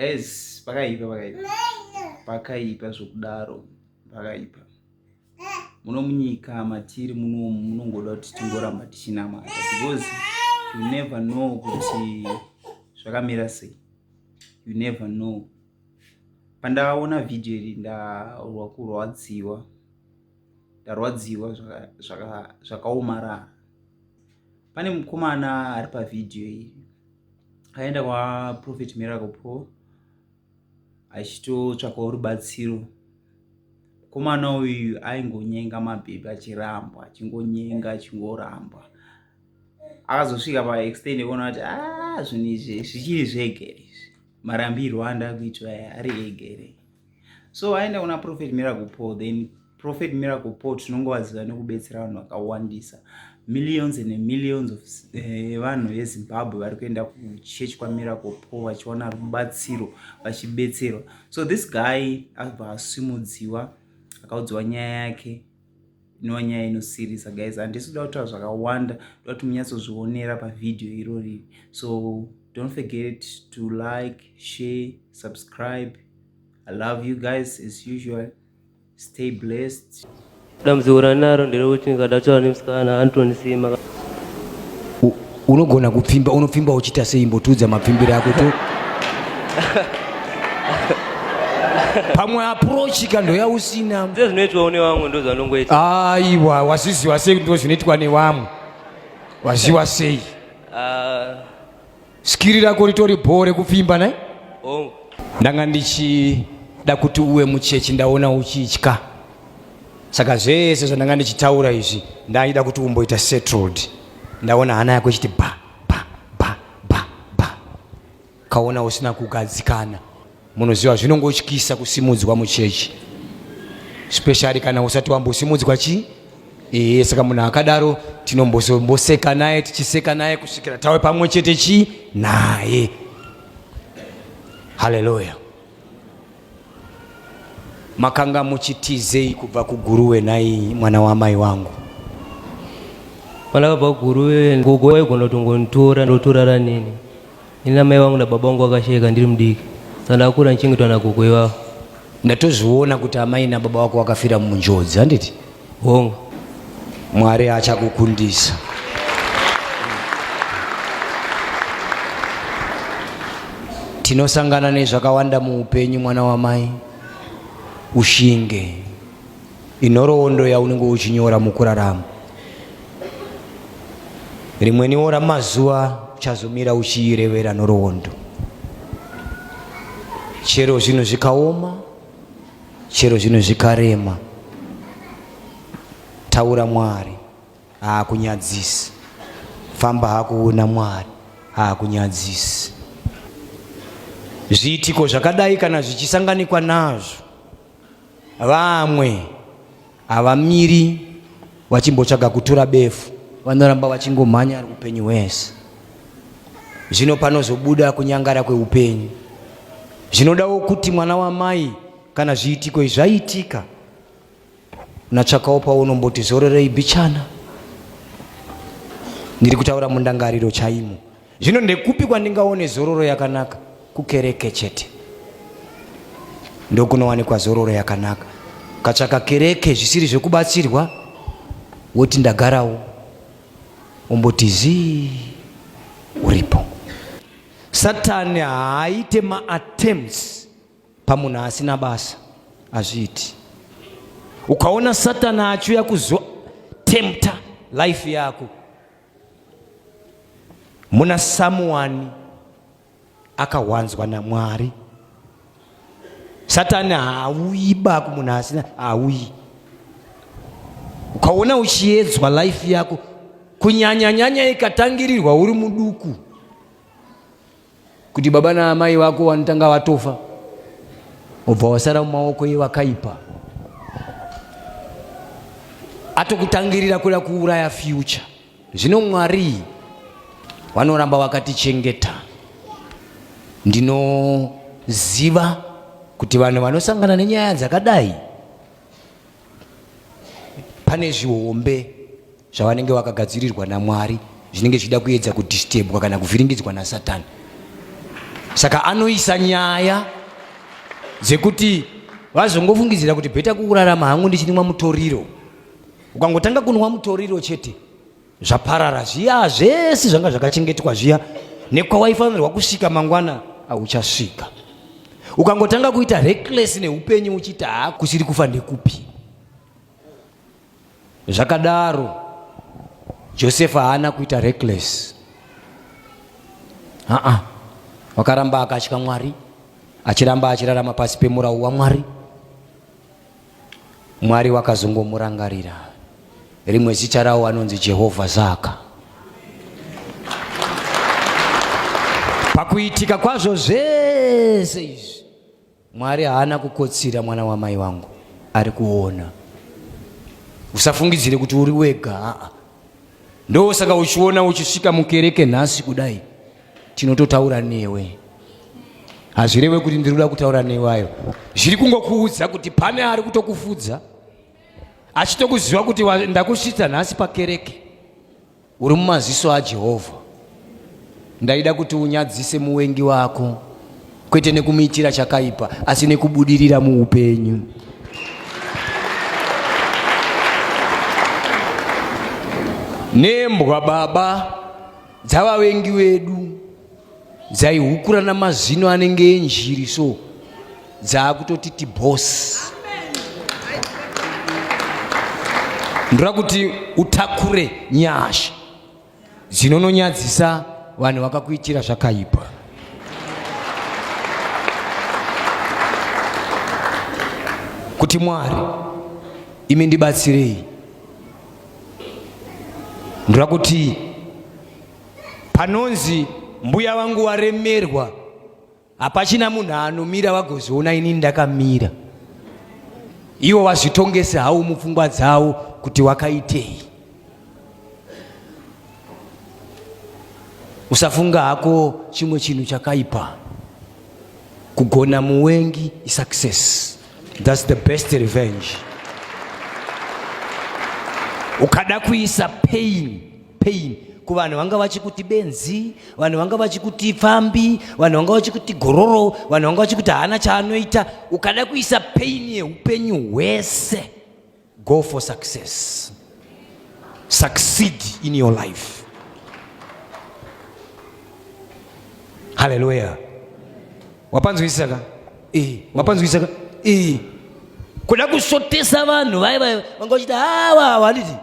es pakaipa pakaipa pakaipa zvokudaro pakaipa muno munyika matiri muno munongoda kuti tingoramba tichinamata because you never know kuti zvakamira sei you never know pandaona vhidhiyo iri ndarwa kurwadziwa ndarwadziwa zvakaomarara pane mukomana ari pavhidhiyo iri aenda kwaprophet miracle paul achitotsvakawo rubatsiro mukomana uyu aingonyenga mabhebhi achirambwa achingonyenga achingorambwa akazosvika paextend ekuona kuti a ah, zvinhu izvi zvichiri zvegere izvi marambirwo andakuitwa ari egere so aenda kuna prophet miracle paul then prophet miracle paul tinongovaziva nekubetsera vanhu vakawandisa millions and millions of eh, vanhu uh, vezimbabwe vari kuenda kuchechi kwamiracle paul vachiwana rubatsiro vachibetserwa so this guy akabva asimudziwa akaudziwa nyaya yake inova nyaya inosirisa guys handisi kuda kutaura zvakawanda ndoda kuti munyatsozvionera pavhidhiyo irori so don't forget to like share subscribe i love you guys as usual stay blessed dambudziko ranaro nderekuti ndikada kutaura nemusikana antonisima unogona kupfimba unopfimba uchiita sei imbotiudza mapfimbiro ako to pamwe approach ka ndoyausina ndozvinoitwawo nevamwe ndozvanongoita aiwa wazviziwa sei ndo zvinoitwa nevamwe waziwa sei ah. skiri rako ritori bhoo rekupfimba nai oh. ndanga ndichida kuti uwe muchechi ndaona uchitya saka zvese zvandanga ndichitaura izvi ndaida kuti umboita settled ndaona hana yako ichiti ba ba ba ba ba kaona usina kugadzikana munoziva zvinongotyisa kusimudzwa muchechi specially kana usati wambosimudzwa chii ee saka munhu akadaro tinomboseka naye tichiseka naye kusvikira tawe pamwe chete chii naye haleluya Makanga muchitizei kubva kuGuruwe nhai mwana wamai vangu? Pala pa Guruwe gogo waigona kutongonitora ndotorara neni. Ini namai vangu nababa vangu vakashaika ndiri mudiki. Saka ndakakura ndichengetwa nagogo ivavo. Ndatozviona kuti amai nababa vako vakafira munjodzi handiti? Hongu, Mwari achakukundisa. Tinosangana nezvakawanda muupenyu mwana wamai, ushinge inhoroondo yaunenge uchinyora mukurarama. Rimweniwo ramazuva uchazomira uchiirevera nhoroondo chero zvinhu zvikaoma chero zvinhu zvikarema taura mwari haakunyadzisi famba hakuona mwari haakunyadzisi zviitiko zvakadai kana zvichisanganikwa nazvo vamwe Havamiri vachimbotsvaga kutura befu, vanoramba vachingomhanya upenyu hwese. Zvino panozobuda kunyangara kweupenyu. Zvinodawo kuti mwana wamai kana zviitiko izvi zvaiitika, unatsvakawo paunomboti zororei bichana. Ndiri kutaura mundangariro chaimo. Zvino ndekupi kwandingaone zororo yakanaka? Kukereke chete ndokunowanikwa zororo yakanaka. Ukatsvaka kereke zvisiri zvekubatsirwa, woti ndagarawo, umboti zii uripo. Satani haaite maattempts pamunhu asina basa, hazviiti. Ukaona Satani achiuya kuzotemta life yako muna samuwani akawanzwa namwari satani haauyi baku munhu asina haauyi ukaona uchiedzwa life yako kunyanyanyanya ikatangirirwa uri muduku kuti baba naamai vako vanotanga vatofa obva wasara mumaoko evakaipa atokutangirira kuda kuuraya future zvino mwari vanoramba vakatichengeta ndinoziva kuti vanhu vanosangana nenyaya dzakadai pane zvihombe zvavanenge vakagadzirirwa namwari zvinenge zvichida kuedza kudistebwa kana kuvhiringidzwa nasatani saka anoisa nyaya dzekuti vazongofungidzira kuti bheta kuurarama hangu ndichinwa mutoriro ukangotanga kunwa mutoriro chete zvaparara zviya zvese zvanga zvakachengetwa zviya nekwawaifanirwa kusvika mangwana auchasvika ukangotanga kuita reckless neupenyu uchiti haa kusiri kufa ndekupi zvakadaro josefa haana kuita reckless aa wakaramba akatya mwari achiramba achirarama pasi pemurau wamwari Mwari wakazongomurangarira rimwe zita rawo anonzi Jehovha Saka pakuitika kwazvo zvese izvi Mwari haana kukotsira mwana wamai wangu ari kuona usafungidzire kuti uri wega aa ndosaka uchiona uchisvika mukereke nhasi kudai tinototaura newe hazvireve kuti ndiri kuda kutaura newayo zviri kungokuudza kuti pane ari kutokufudza achitokuziva kuti ndakusvitsa nhasi pakereke uri mumaziso ajehovha Ndaida kuti unyadzise muvengi wako, kwete nekumuitira chakaipa, asi nekubudirira muupenyu. Nembwa baba dzavavengi vedu dzaihukura namazino anenge enjiri so dzaakutoti tibhosi ndoda kuti utakure nyasha Zinononyadzisa vanhu vakakuitira zvakaipa. Kuti Mwari imi ndibatsirei. Ndoda kuti panonzi mbuya vangu waremerwa hapachina munhu anomira vagozoona inini ndakamira iwo vazvitongese hawo mupfungwa dzawo kuti wakaitei usafunga hako chimwe chinhu chakaipa kugona muwengi isuccess thats the best revenge ukada kuisa pain pain kuvanhu vanga vachikuti benzi vanhu vanga vachikuti pfambi vanhu vanga vachikuti gororo vanhu vanga vachikuti haana chaanoita ukada kuisa pain yeupenyu hwese go for success succeed in your life haleluya wapanzwisisa ka eh, wapanzwisisa ka eh. kuda kusotesa vanhu vaiva vanga vachiti hawa ah, handiti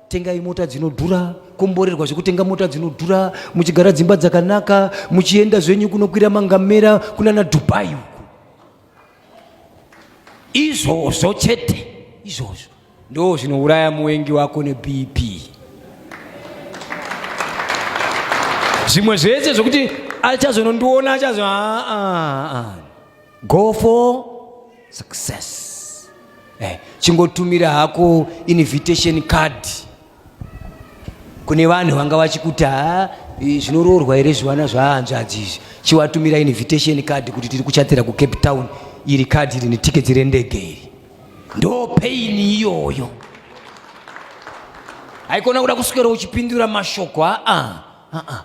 tengai mota dzinodhura komborerwa zvekutenga mota dzinodhura muchigara dzimba dzakanaka muchienda zvenyu kunokwira mangamera kunana dubai uku izvozvo chete izvozvo ndo zvinouraya muwengi wako nebp zvimwe zvese zvekuti achazonondiona achazo aa ah, ah, ah. go for success eh, chingotumira hako invitation card kune vanhu vanga vachikuti ha zvinoroorwa here zvivana zvahanzvadzi izvi chiwatumira invitation card kuti tiri kuchatira kucape town iri card iri netiketi rendege iri ndo pain iyoyo haikona kuda kuswera uchipindura mashoko aa ah, ah, ah.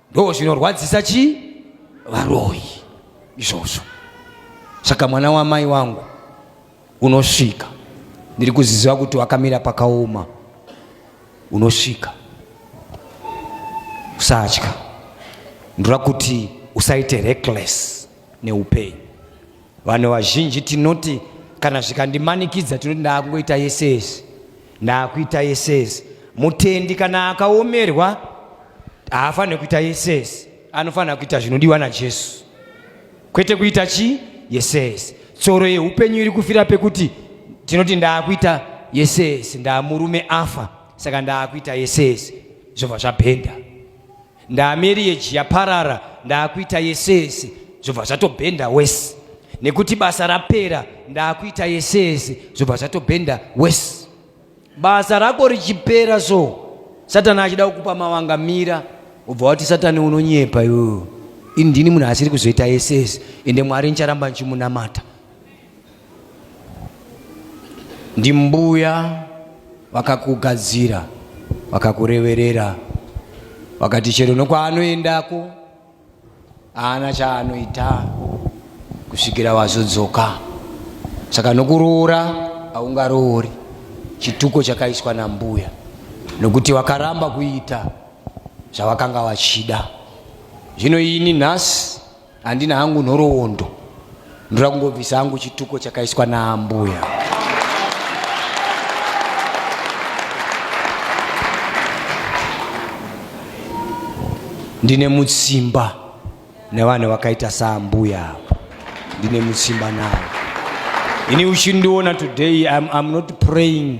ndo zvinorwadzisa chii varoyi izvozvo saka mwana wamai wangu unosvika ndiri kuziziva kuti wakamira pakaoma unosvika usatya ndira kuti usaite reckless neupeyu. Vanhu vazhinji tinoti kana zvikandimanikidza tinoti ndaakungoita yese yese, ndaakuita yese yese. Mutendi kana akaomerwa haafanire kuita yese yese, anofanira kuita zvinodiwa naJesu, kwete kuita chi yese yese. Tsoro yeupenyu iri kufira pekuti tinoti ndaakuita yese yese, ndaamurume afa, saka ndaakuita yese yese, zvobva zvabhenda. ndaamereji yaparara ndaakuita yese yese zvobva zvatobhenda wese nekuti basa rapera ndaakuita yese yese zvobva zvatobhenda wese basa rako richipera so satani achida kukupa mavanga mira ubva wati satani unonyepa yoo indini munhu asiri kuzoita yese yese ende mwari ncharamba nchimunamata ndimbuya vakakugadzira vakakureverera vakati chero nokwaanoendako haana chaanoita kusvikira wazodzoka saka nokuroora haungaroori chituko chakaiswa nambuya nokuti wakaramba kuita zvavakanga vachida zvino ini nhasi Handina hangu nhoroondo, ndoda kungobvisa hangu chituko chakaiswa naambuya. Ndine mutsimba nevanhu vakaita saambuya apa, ndine mutsimba navo. Ini uchindiona today I'm, I'm not praying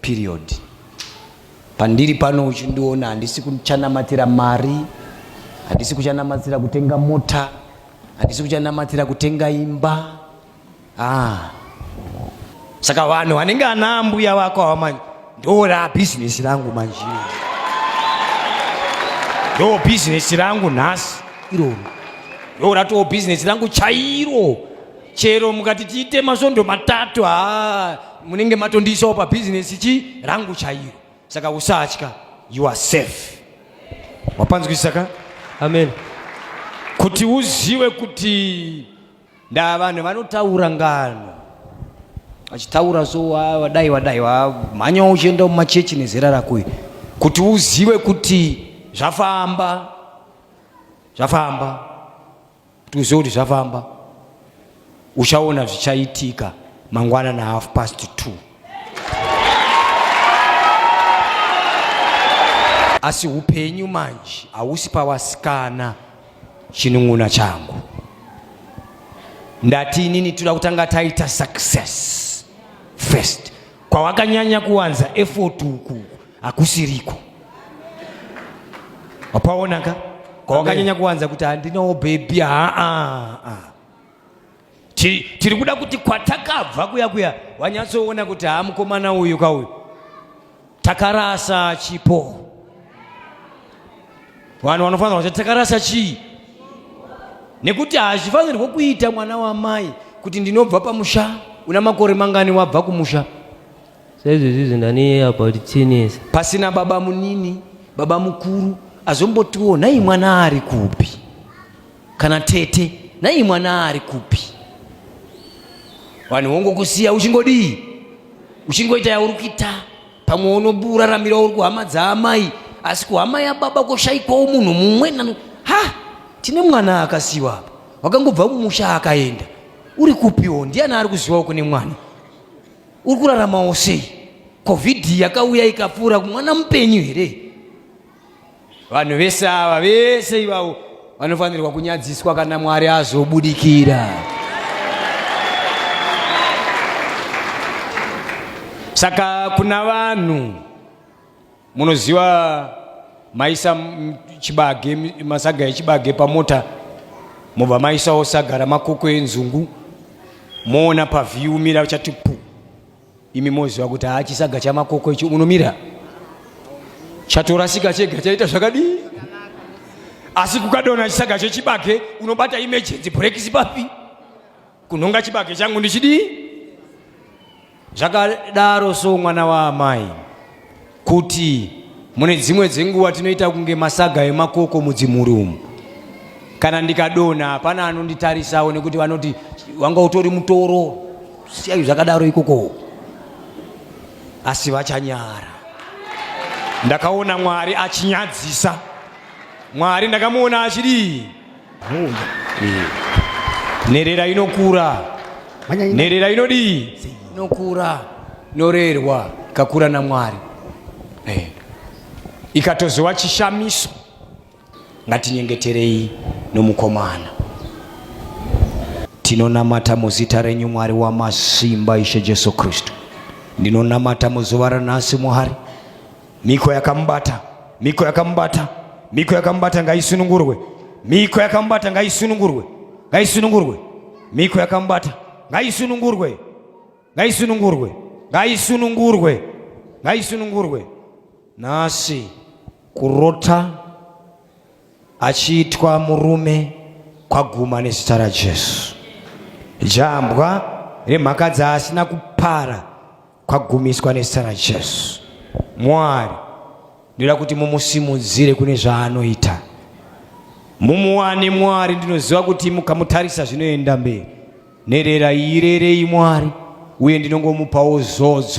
Period. Pandiri pano uchindiona handisi kuchanamatira mari, handisi kuchanamatira kutenga mota, handisi kuchanamatira kutenga imba. Ah. Saka vanhu vanenge ana mbuya vako awa manje ndora business rangu manje. Ndo business rangu nhasi iroro. Ndo ratoo business rangu chairo. Chero mukati tiite masvondo matatu haa munenge matondiisawo pabhizinesi chi rangu chairo saka usatya you are safe wapanzwisisa ka amen kuti uzive kuti ndaa vanhu vanotaura ngano vachitaura so wadai wadai wamhanyawo uchienda mumachechi nezera rakoyo kuti uzive kuti zvafamba zvafamba Tuzive kuti zvafamba. Uchaona zvichaitika mangwana na half past two. Asi upenyu manje hausi pawasikana chinun'una changu. Ndati inini toda kutanga taita success first. Kwawakanyanya kuwanza effort uku hakusiriko wapaonaka kwawakanyanya kuwanza kuti handinawo bhebhi haa tiri kuda kuti kwatakabva kuya kuya wanyatsoona kuti haa mukomana uyu ka uyu takarasa chipo vanhu vanofanira kuti takarasa chii nekuti hazvifanirwe kuita mwana wamai kuti ndinobva pamusha una makore mangani wabva kumusha Saizvezvi zvinaniye about chinese. Pasina baba munini, baba mukuru azombotiwo nhai mwana ari kupi? Kana tete, nhai mwana ari kupi? Vanhu vongokusiya uchingodii? Uchingoita yauri kuita. Pamwe unoraramira uri kuhama dzaamai, asi kuhama yababa koshaikwawo munhu mumwe nanu. Ha! Tine mwana akasiwa apa. Wakangobva mumusha akaenda. Uri kupiwo? Ndiani ari kuzivawo kune mwana? uri kuraramawo sei covid yakauya ikapfuura mwana mupenyu here vanhu vese ava vese ivavo vanofanirwa kunyadziswa kana mwari azobudikira saka kuna vanhu Munoziva maisa chibage masaga echibage pamota mobva maisawo saga ramakoko enzungu moona pavhiyu umira uchati pu imi moziva kuti haa chisaga chamakoko icho unomira chatorasika chega chaita zvakadii asi kukadona chisaga chechibage unobata emergency brekisi papi kunhonga chibage changu ndichidii zvakadaro so mwana waamai kuti mune dzimwe dzenguva tinoita kunge masaga emakoko mudzimhuri umu kana ndikadona hapana anonditarisawo nekuti vanoti wanga utori mutoro siyayi zvakadaro ikoko asi vachanyara ndakaona mwari achinyadzisa mwari ndakamuona achidii Nherera inokura. Nherera inodii? Inokura. Norerwa ikakura naMwari. Eh. Ikatozowa chishamiso. Ngatinyengeterei nomukomana. Tinonamata muzita renyu Mwari wamasimba Ishe Jesu Kristu. Ndinonamata muzuva ranhasi Mwari. Miko yakamubata, miko yakamubata, miko yakamubata ngaisunungurwe, miko yakamubata ngaisunungurwe, ngaisunungurwe, miko yakamubata ngaisunungurwe, ngaisunungurwe, ngaisunungurwe, ngaisunungurwe. Nhasi kurota achiitwa murume kwaguma nezita raJesu. Jambwa remhaka dzaasina kupara kwagumiswa nezita rajesu mwari ndoda kuti mumusimudzire kune zvaanoita mumuwane mwari ndinoziva kuti mukamutarisa zvinoenda mberi nherera irerei mwari uye ndinongomupawo zodzo